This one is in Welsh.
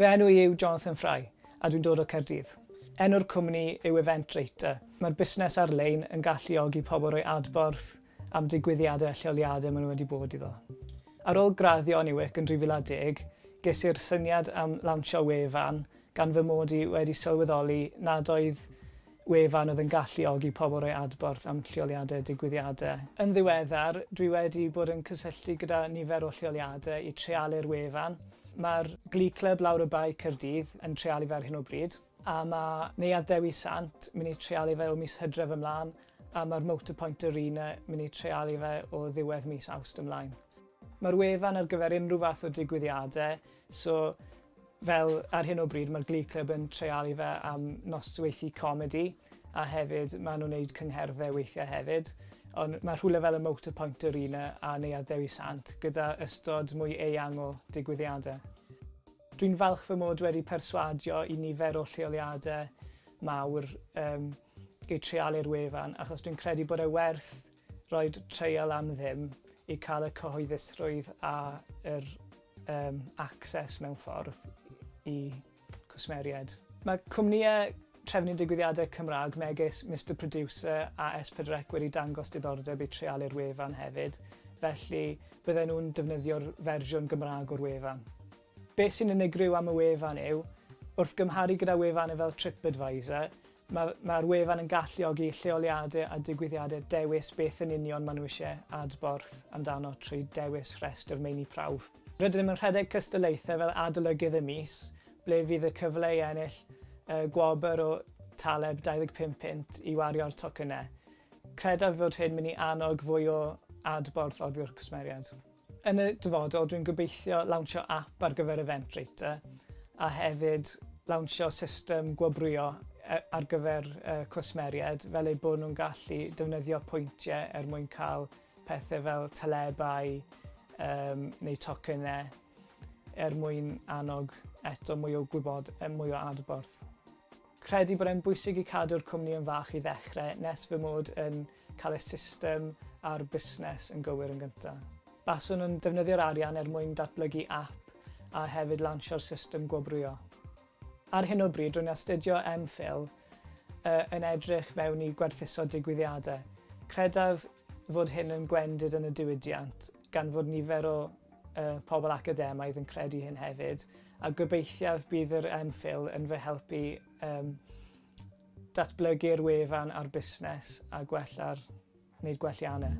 Fy enw i yw Jonathan Fry a dwi'n dod o Caerdydd. Enw'r cwmni yw Eventrater. Mae'r busnes ar-lein yn galluogi pobl roi adborth am digwyddiadau a lleoliadau maen nhw wedi bod iddo. Ar ôl graddio yn UWIC yn 2010, ges i'r syniad am lawnsio wefan gan fy mod i wedi sylweddoli nad oedd wefan oedd yn galluogi pobl roi adborth am lleoliadau digwyddiadau. Yn ddiweddar, dwi wedi bod yn cysylltu gyda nifer o lleoliadau i treialu'r wefan. Mae'r Glee Club lawr y bae Caerdydd yn treialu fe ar hyn o bryd, a mae Neuadd Dewi Sant mynd i treialu fe o mis Hydref ymlaen, a mae'r Motorpoint Arena mynd i treialu fe o ddiwedd mis Awst ymlaen. Mae'r wefan ar gyfer unrhyw fath o digwyddiadau, so Fel, ar hyn o bryd, mae'r Glee Club yn treialu fe am nosweithu comedi, a hefyd maen nhw'n neud cyngherddau weithiau hefyd, ond mae rhywle fel y Motor Point Arena a Neuadd Dewi Sant gyda ystod mwy eang o digwyddiadau. Dwi'n falch fy mod wedi perswadio i nifer o lleoliadau mawr yym i treialu'r wefan achos dwi'n credu bod e werth Roedd treial am ddim i cael y cyhoeddusrwydd a yr um, access mewn ffordd i cwsmeriaid. Mae cwmnïau trefnu digwyddiadau Cymraeg megis Mr Producer a S4C wedi dangos diddordeb i treialu'r wefan hefyd, felly bydden nhw'n defnyddio'r fersiwn Gymraeg o'r wefan. Beth sy'n unigryw am y wefan yw, wrth gymharu gyda wefannau fel TripAdvisor, Mae, mae'r wefan yn galluogi lleoliadau a digwyddiadau dewis beth yn union maen nhw eisiau adborth amdano trwy dewis rhestr meini prawf. Rydym yn rhedeg cystadlaethau fel adolygydd y mis, ble fydd y cyfle i ennill y gwobr o taleb 25 punt i wario'r tocynnau. Credaf fod hyn mynd i annog fwy o adborth oddiwrth cwsmeriaid. Yn y dyfodol, dwi'n gobeithio lawnsio ap ar gyfer Eventbrater a hefyd lawnsio system gwobrwyo ar gyfer cwsmeriaid fel eu bod nhw'n gallu defnyddio pwyntiau er mwyn cael pethau fel talebau neu tocynnau er mwyn annog eto mwy o gwybod, mwy o adborth. Credu bod e'n bwysig i cadw'r cwmni yn fach i ddechrau nes fy mod yn cael y system a'r busnes yn gywir yn gyntaf. Baswn yn defnyddio'r arian er mwyn datblygu app a hefyd lansio'r system gwobrwyo. Ar hyn o bryd rwy'n astudio MPhil y yn edrych mewn i gwerthuso digwyddiadau. Credaf fod hyn yn gwendid yn y diwydiant gan fod nifer o y pobl academaidd yn credu hyn hefyd. A gobeithiaf bydd yr ymchwil yn fy helpu um, datblygu'r wefan a'r busnes a gwella'r wneud gwelliannau.